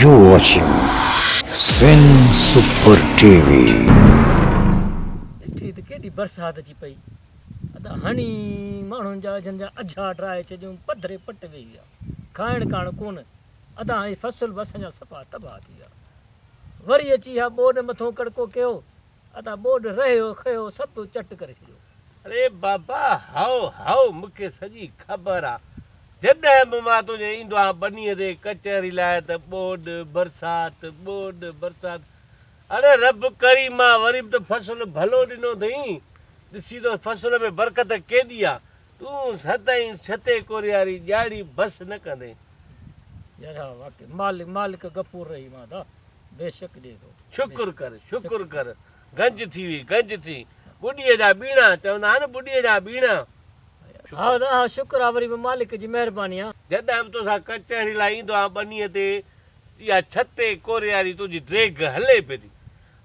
U watching Sindh super T V. ڏٺي ته ڪيڏي برسات اچي پئي ادا هڻي ماڻهن جا اجهن جا اجها ڊاهي ڇڏيون پڌري پٽ ويهي ويا کائڻ ڪاڻ ڪونه ادا هي فصل به اسان جا صفا تباهه ٿي ويا وري اچي اها ٻوڏ مٿون ڪڙڪو ڪيو ادا ٻوڏ رهيو کيو سڀ چٽ ڪري ڇڏيو. اري بابا هائو هائو مون کي سڄي خبر آ جڏهن به مان تنهنجي ايندو آهيان ٻنيء تي ڪچهري لاء ته ٻوڏ برسات ٻوڏ برسات اڙي رب ڪريم آ وري به ته فصل ڀلو ڏنو اٿئين ڏسي ته فصل ۾ برڪت ڪيڏي آ تون سدائين ڇتي ڪورياري ڄاڙي بس نه ڪندين. جهڙا واقعي مالڪ مالڪ غفور رحيم آ دا بيشڪ ڏي ٿو. شڪر ڪر شڪر ڪر گنج ٿي وئي گنج ٿي ٻڏيء جا ٻيڻا چوندا آهن ٻڏيء جا ٻيڻا. هاء دا هاء شڪر آ وري به مالڪ جي مهرباني آ. جڏهن به توسان ڪچهري لاء ايندو آهيان ٻنيء تي يا ڇتي ڪورياري تنهنجي ڊيگهه هلي پئي ٿي.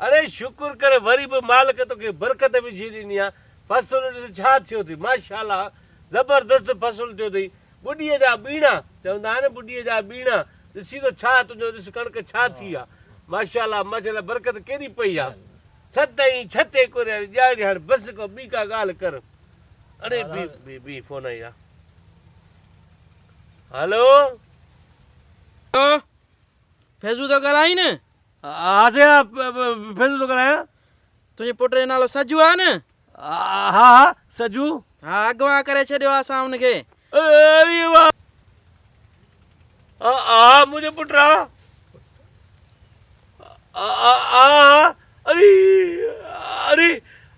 اڙي شڪر ڪر وري به مالڪ توکي برڪت وجهي ڏني آ فصل ڏس ڇا ٿيو ٿي ماشاءالله زبردست فصل ٿيو ٿئي ٻڏي جا ٻيڻا چوندا آهن ٻڏي جا ٻيڻا ڏسي ته ڇا تنهنجو ڏس ڪڻڪ ڇا ٿي آ ماشاءالله ماشاءالله برڪت ڪيڏي پئي آ ڇت ائين ڇت اي ڪوريا جي ڄاڙي هاڻ بس ڪو ٻي ڪا ڳالهه ڪر اڙي بي بي بي فون آئي آ هلو فيضو ٿو ڳالهائين ها سيان ڦر ٿو ڳالهايان. تنهنجي پٽ جو نالو سجو آهي نه؟ ها ها سجو. ها اغوا ڪري ڇڏيو آهي اسان ان کي. اري واء ها ها منهنجو پٽ آ. ها ها اري اري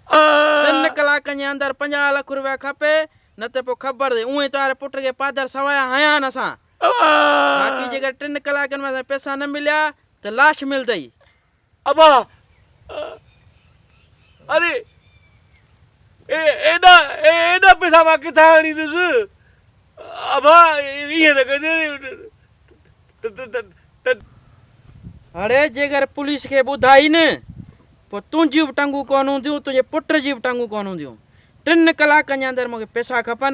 ٽن ڪلاڪن جي اندر پنجاهه لک روپيا کپي نه ته پوء خبر ٿئي اونهي تانري پٽ کي پادر سوايا هنيا آهن اسان. باقي جيڪڏهن ٽن ڪلاڪن ۾ اسان کي پئسا نه مليا ته لاش ملدئي. ابا! اري ايڏا ايڏا پئسا مان ڪٿان آڻيندس؟ ابا ائين نه ڪجي ته. اڙي جيڪر پوليس کي ٻڌائي نه پوء تنهنجيون به ٽنگون ڪونه هونديون تنهنجي پٽ جي به ٽنگون ڪونه هونديون. ٽن ڪلاڪن جي اندر مون کي پئسا کپن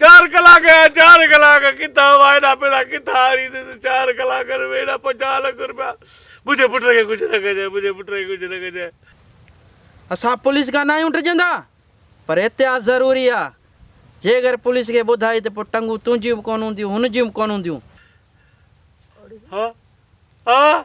چار ڪلاڪ يا چار ڪلاڪ ڪٿان هئا ايڏا پيڙا ڪٿان آڻي ته چار ڪلاڪن ۾ ايڏا پنجاهه لک روپيا منهنجي پٽ کي ڪجهه نه ڪجانء منهنجي پٽ کي ڪجهه نه ڪجانء. اسان پوليس کان ناهيون ڊڄندا پر احتياط ضروري آ جيڪر پوليس کي ٻڌائي ته پوء ٽنگون تنهنجيون به ڪونه هونديون هن جون به ڪونه هونديون. ها ها.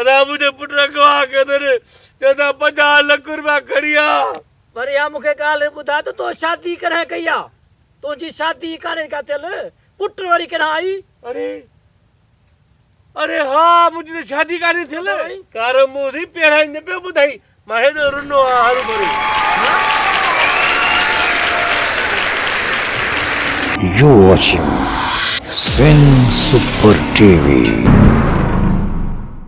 ادا منهنجي پٽ اغوا ڪندڙ چون ٿا پنجاهه لک روپيا کڻي آ. پر اها مون کي ڳالهه ٻڌاء ته تو شادي ڪڏهن ڪئي آ؟ تنهنجي شادي ئي ڪانهي ڪا ٿيل، پٽ وري ڪڏهن آئي؟ اري اري ها منهنجي ته شادي ڪانهي ٿيل. ڪارو منهن ٿي پيرائي نه پيو ٻڌائي مان هيڏو رنو آ هرو ڀرو. You watching Sindh super T V.